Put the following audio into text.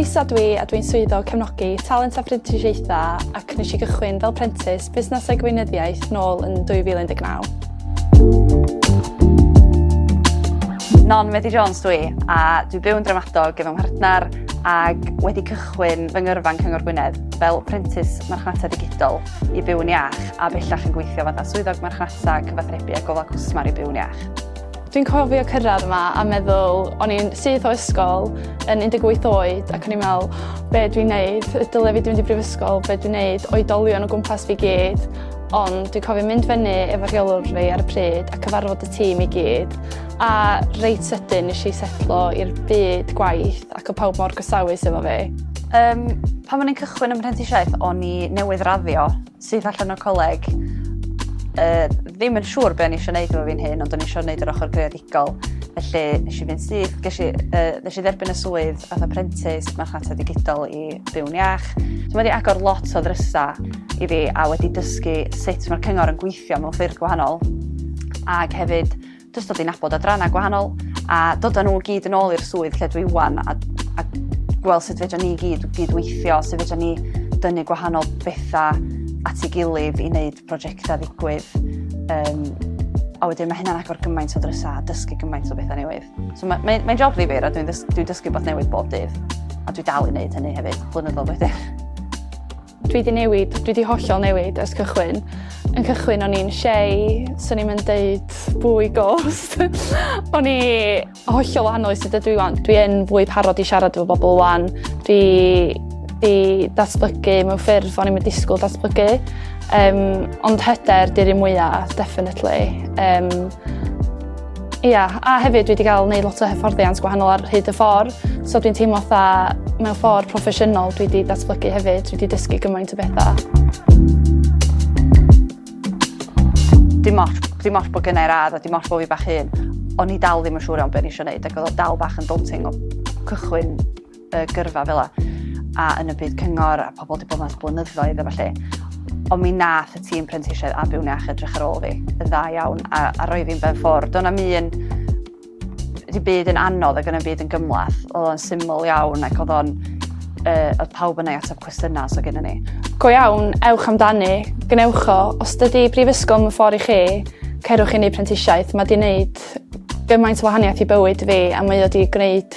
Lisa dwi a dwi'n swyddog cefnogi talent a phrentisiaethau ac nes i gychwyn fel prentis busnesau gweinyddiaeth nôl yn 2019. Non Medi Jones dwi, a dwi byw yn dramadog efo mhartner ac wedi cychwyn fy ngyrfa yn Cyngor Gwynedd fel prentis marchnata digidol i byw'n iach a bellach yn gweithio fatha swyddog marchnata cyfathrebu a gofal cwsmer i byw'n iach. Dwi'n cofio cyrraedd yma a meddwl o'n i'n syth o ysgol yn 18 oed ac o'n i'n meddwl be dwi'n neud, dyle fi dwi'n mynd i brifysgol, be dwi'n neud, oedolion o gwmpas fi gyd Ond dwi'n cofio mynd fyny efo rheolwr fi ar y pryd a cyfarfod y tîm i gyd, a reit sydyn nes i setlo i'r byd gwaith ac o pawb mor gosawus efo fi. Um, pan o'n i'n cychwyn ym mhrentisiaeth, o'n i newydd raddio syth allan o'r coleg. Uh, ddim yn siŵr beth o'n i eisiau gwneud efo fi'n hyn, ond o'n i eisiau gwneud yr ochr greadigol. ysgol. Felly, nes i fynd syth, nes i, uh, nes i dderbyn y swydd fath apprentice marchnata digidol i byw'n iach. So mae wedi agor lot o ddrysa i fi a wedi dysgu sut mae'r cyngor yn gweithio mewn ffyrdd gwahanol. Ac hefyd, jyst dod i nabod adrannau gwahanol a dod â nhw gyd yn ôl i'r swydd lle dwi wan a, a gweld sut fedra ni gyd gydweithio, sut fedra ni dynnu gwahanol bethau at ei gilydd i wneud projectau ddigwydd. Um, a wedyn mae hynna'n agor gymaint o drysau a dysgu gymaint o bethau newydd. So mae'n mae, mae job ddifur a dwi'n dys, dwi dysgu bod newydd bob dydd. A dwi dal i wneud hynny hefyd, blynyddoedd wedyn. Dwi wedi newid, dwi wedi hollol newid ers cychwyn. Yn cychwyn o'n i'n shei, so ni'n mynd deud bwy ghost. o'n i, Hollol wahanol i sut ydw i wan. Dwi yn fwy parod i siarad efo bobl wan. Dwi di datblygu mewn ffyrdd o'n i'n disgwyl datblygu. Um, ond hyder di'r un mwyaf, definitely. Um, Ia, yeah, a hefyd dwi wedi cael gwneud lot o hyfforddiant gwahanol ar hyd y ffordd, so dwi'n teimlo tha mewn ffordd proffesiynol dwi wedi datblygu hefyd, dwi wedi dysgu gymaint o bethau. Dim ots, dim ots bod gennau'r radd a dim ots bod fi bach hun, o'n i dal ddim yn siŵr iawn beth o'n i eisiau gwneud ac oedd o dal bach yn daunting o cychwyn y gyrfa fel a yn y byd cyngor a pobl wedi bod mas blynyddoedd efo lle. Ond mi nath y tîm prentisiaid a byw'n iach edrych ar ôl fi yn dda iawn a, a roi fi'n ben ffwrdd. Do'n am un Rhy byd yn anodd ac yn y byd yn gymlath. Oedd o'n syml iawn ac oedd o'n... Uh, oedd pawb yna i ateb cwestiynau os oedd gennym ni. Go iawn, ewch amdani, gwnewch o. Os dydy brifysgol yn ffordd i chi, cerwch i ni prentisiaeth. Mae di wneud gymaint o wahaniaeth i bywyd fi a mae o wedi gwneud